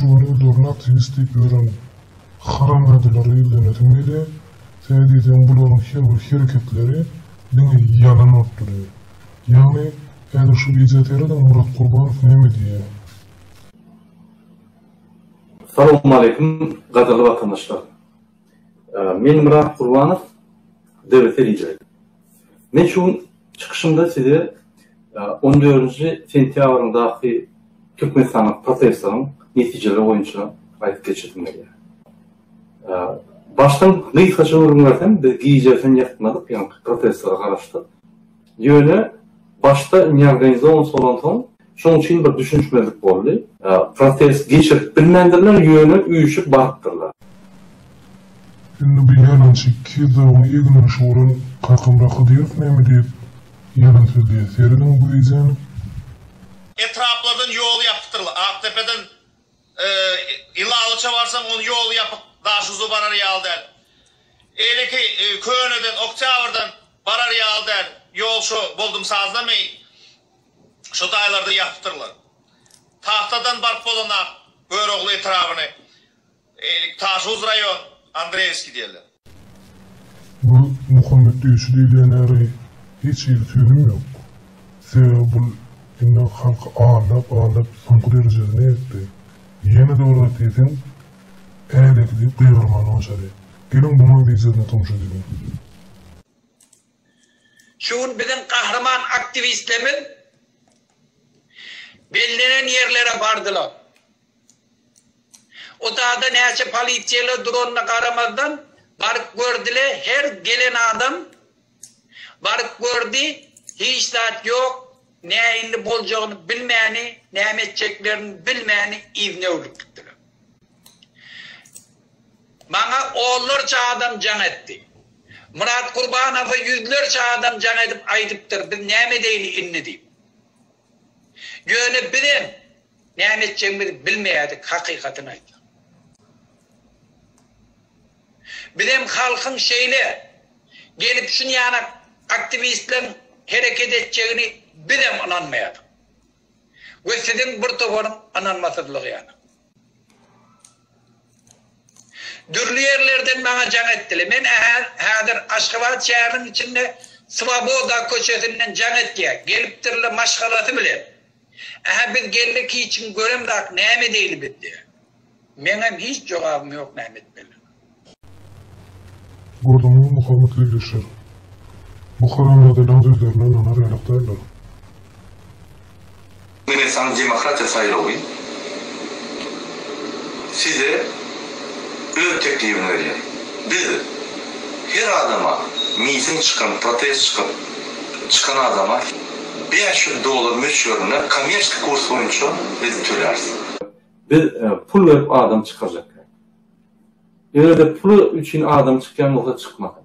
Görüň durna ateist diýip ýören haramzadalara ýüzlenesim gelýär. Sebäbi diýseň bularyň her bir hereketleri diňe ýalan bolup durýar. Ýagny häzir şu wideo serediň Murat Gurbanow näme diýýär. Salowmaleýkim gadyrly watandaşlar. Men Myrat Gurbanow, DBT lideri. Men şu gün çykyşymda size on dördünji sentýabrdaky Türkmenistanda protestlaryň netijeleri boýunça aýdyp geçesim gelýär. Başdan gysgaça gürrüň bersem, biz gijäsen ýatmadyk, ýaňky protestlere garaşdyk. Ýöne başda indi organizowanysi bolansoň, Şoň üçin bir düşünişmezlik boldy. Protest geçirip bilmändirler, ýöne üýşüp barypdyrlar. Indi bu ýalançy iki ýüz dogry egin-aşy bolan Kakamyrat Hydyrow näme diýip ýalan sözleýär, serediň bu wideony. Etraplardan ýol ýapykdyr Akdepeden Ilalyça barsaň on ýol ýapyk Daşuguza barar ýaly däl. Eýleki Köneden Oktýabrdan barar ýaly däl ýol şo Boldumsazda meý. şu taýlarda ýapypdyrlar. Tagtadan baryp bolanam Görogly etrabyny eýleki Taşhuz raýon Andreýewskiý diýerler. Bul Muhammet döwşi diýilýänäri hiç hili sözüm ýok. Sebäbi bul indi halky aldap aldap soňky derejesine ýetdi. Ýene-de bir zat diýseň ädikli gygyrymaly başary. Geliň bunuň wideosyny tomaşa edeliň. Şu gün biziň gahryman aktiwistlerimiz bellenen ýerlere bardylar. Utada näçe polisiýaly duranyna garamazdan baryp gördile, her gelen adam baryp gördi, hiç zat ýok, näinli boljagyny bilmäni, näme etjeklerini bilmäni iznewlük gitdiler. Maňa onlarça adam jaň etdi. Myrat Gurbanowa ýüzlerçe adam jaň edip aýdypdyr, biz näme edeýli indi diýip. Ýöne bizem näme etjegimizi bilmeýärdik, hakykatyny aýtsak. Bizem halkyň şeýle gelip şun ýanak aktiwistleriň hereket etjegini bizem ynanmaýardyk. We siziň bir toparyň ynanmasyzlygy ýanak. Dürli ýerlerden maňa jaň etdiler. Men häzir Aşgabat şäheriniň içinde Swoboda köçesinden jaň etýär. Gelipdirler maşgalasy bilen. Ähä biz geldik hiç kim göremzak näme edeýli biz diýýär. Meňem hiç jogabym ýok näme etmeli. Gördüňmi Muhammet Güldeşler. Bu haramzadalaň sözlerine ynanar ýalak däldir. Meni saň demokratiýa saýlawy size öz teklibini berýär. Biz her adama miting çykan protest çykyp çykan adama bäş ýüz dollar möçberinde kommersiýa kurs boýunça biz töläris. Biz pul berip adam çykarjak. Özde pul üçin adam çykýan bolsa çykmasyn.